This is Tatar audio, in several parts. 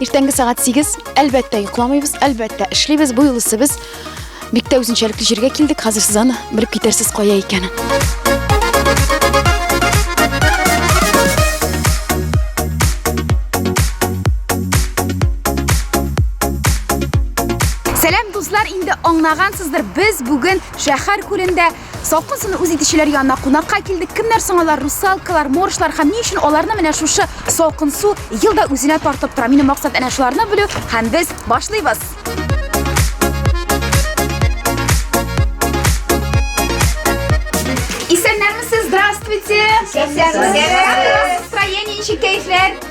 Иртәнге сәгать 8. Әлбәттә, йокламыйбыз, әлбәттә, эшлибез. Бу юлысы без бик тә үзенчәлекле җиргә килдек. Хәзер сез аны белеп китәрсез кая икәнен. Сәлам, дуслар, инде аңлагансыздыр, без бүген шәһәр күлендә Салкын суны үз итүчеләр янына кунакка килдек. Кемнәр соң алар? Русалкалар, моржлар һәм ни өчен аларны менә шушы салкын су елда үзенә тартып тора? Минем максат әнә шуларны белү һәм без башлыйбыз. Исәннәрмесез, здравствуйте! Исәнмесез! Настроение ничек, кәефләр?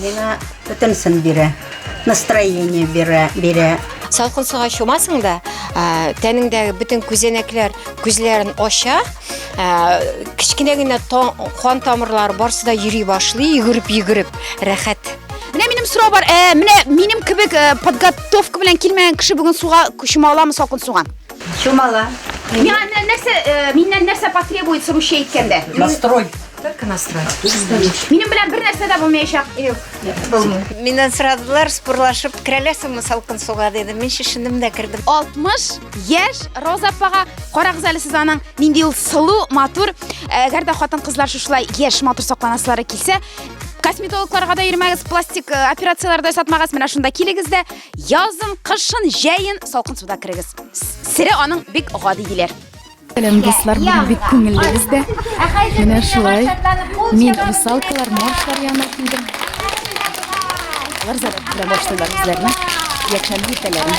Миңа бөтенсен бирә, настроение бирә, бирә. Салкын суга чумасың да, тәнеңдәге бөтен күзәнәкләр күзләрен ача, кечкенә генә кан тамырлары барсы да йөри башлый, йөгереп-йөгереп, рәхәт. Менә минем сорау бар, ә, менә минем кебек подготовка белән килмәгән кеше бүген суга чума аламы салкын суга? Чумала. Миңа нәрсә, миннән нәрсә потребуется русча әйткәндә? Настрой. Только насрать. Минем белән бер нәрсә дә булмаячак. Юк. Булмый. Миннән сорадылар, спорлашып керәләсеңме салкын суга диде. Мин шешендем дә кердем. 60 яшь Роза апага карагыз әле сез аның нинди ул сылу, матур. Әгәр дә хатын-кызлар шушылай яшь матур сакланасылары килсә, косметологларга да йөрмәгез, пластик э, операцияләрдә сатмагыз. Менә шунда килегез дә язын, кышын, җәен салкын суда керегез. Сире аның бик гади диләр. Сәлам дуслар, бүген бик күңелле бездә. Менә шулай. Мин русалкалар, моржлар янына килдем. Алар зарып тора башлыйлар үзләренә. Якшәмбе иртәләрен.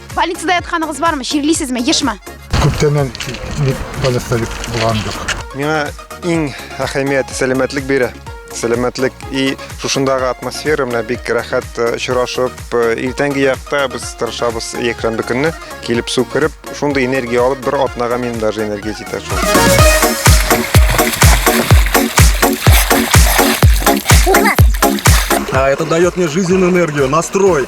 Больницада ятканыгыз бармы? Чирлисезме? Ешмы? Күптәннән бик больниста бик булган юк. Миңа иң әһәмиятле сәламәтлек бирә. Сәламәтлек и шушындагы атмосфера менә бик рәхәт э, очрашып, э, иртәнге якта без тырышабыз якшәмбе көнне килеп су кереп, шундый энергия алып бер атнага минем даже энергия җитә шул. А это дает мне жизненную энергию, настрой.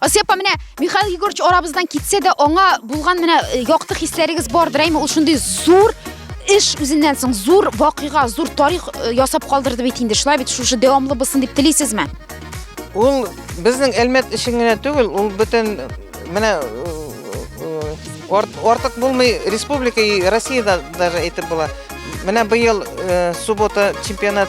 Асия апа, менә Михаил Егорович арабыздан китсә дә, аңа булган менә э, якты хисләрегез бардыр, әйме? Ул шундый зур эш үзеннән соң зур вакыйга, зур тарих э, ясап калдырды бит инде. Шулай бит шушы дәвамлы булсын дип телисезме? Ул безнең Әлмәт өчен генә түгел, ул бөтен менә артык булмый республика и Россиядә даже әйтеп була. Менә быел э, суббота чемпионат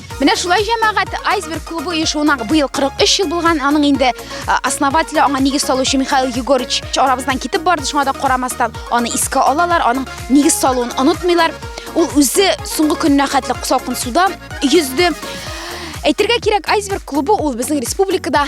Менә шулай җәмәгать Айсберг клубы оешуына быел 43 ел булган, аның инде основателе, аңа нигез салучы Михаил Егорович арабыздан китеп барды, шуңа да карамастан аны искә алалар, аның нигез салуын онытмыйлар. Ул үзе соңгы көненә хәтле салкын суда йөзде. Әйтергә кирәк, Айсберг клубы ул безнең республикада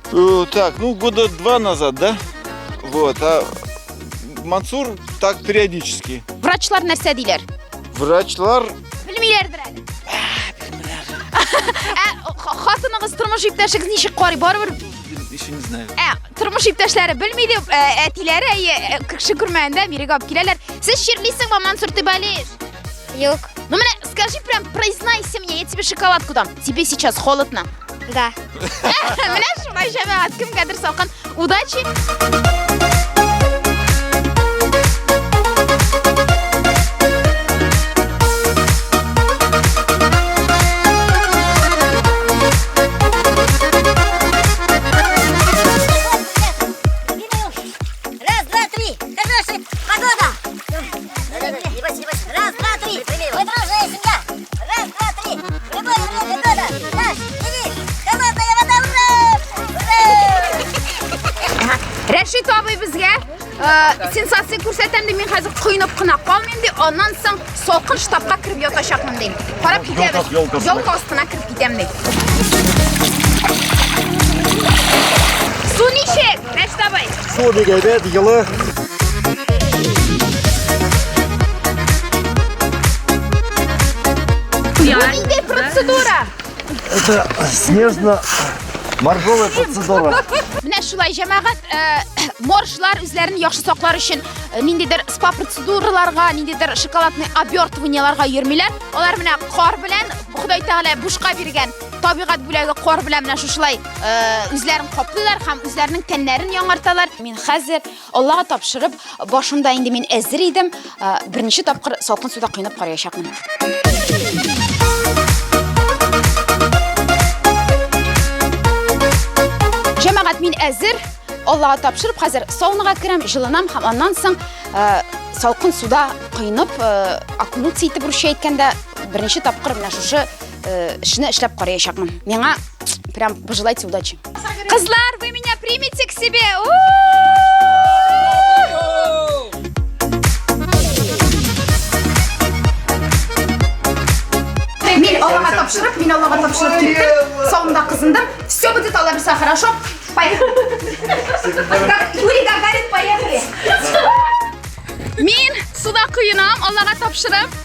Э, так, ну года два назад, да? Вот, а Мансур так периодически. Врачлар нәрсә диләр? Врачлар... Белмиләрдер әле. Ә, хатыныгыз тормыш иптәшегез ничек карый? Барыбер еще не знаю. Ә, тормыш иптәшләре белми дип, ә, әтиләре әйе, ә, кеше күрмәгәндә бирегә алып киләләр. Сез чирлисеңме Мансур Тибалиев? Юк. Ну, менә, скажи прям, признайся мне, я тебе шоколадку дам. Тебе сейчас холодно? Да. Менә шулай җәмәгать, кемгәдер салкын. Удачи! Рәшит абый безгә э, сенсация күрсәтәм ди, мин хәзер коенып кына калмыйм ди, аннан соң салкын штабка кереп ятачакмын ди. Карап китәбез. Ялка астына кереп китәм ди. Су ничек? Кәштабай. Су бик әйбәт, йылы. Нинди процедура? Это снежно моржовая процедура. Менә шулай җәмәгать э, моржлар үзләрен яхшы саклар өчен э, ниндидер спа процедураларга, ниндидер шоколадный обертываниеларга йөрмиләр. Алар менә кар белән Ходай Тәгалә бушка биргән Табигать бүләге кор белән менә шушылай үзләрен каплыйлар һәм үзләренең тәннәрен яңарталар. Мин хәзер Аллага тапшырып, башымда инде мин әзер идем. Беренче тапкыр салкын суда кыйнап караячакмын. Җәмәгать, мин әзер. Аллага тапшырып, хәзер саунага керәм, җылынам һәм аннан соң салкын суда кыйнап, окунуться итеп русча әйткәндә, беренче тапкыр менә шушы э, эшне эшләп караячакмын. Миңа прям пожелайте удачи. Кызлар, вы меня примете к себе? Мин Аллаһка тапшырып, мин Аллаһка тапшырып киттем. Соңында кызындым. Все будет Алла бирсә, хорошо? Поехали. Как Юрий Гагарин, поехали. Мин суда куенам, Аллаһка тапшырып.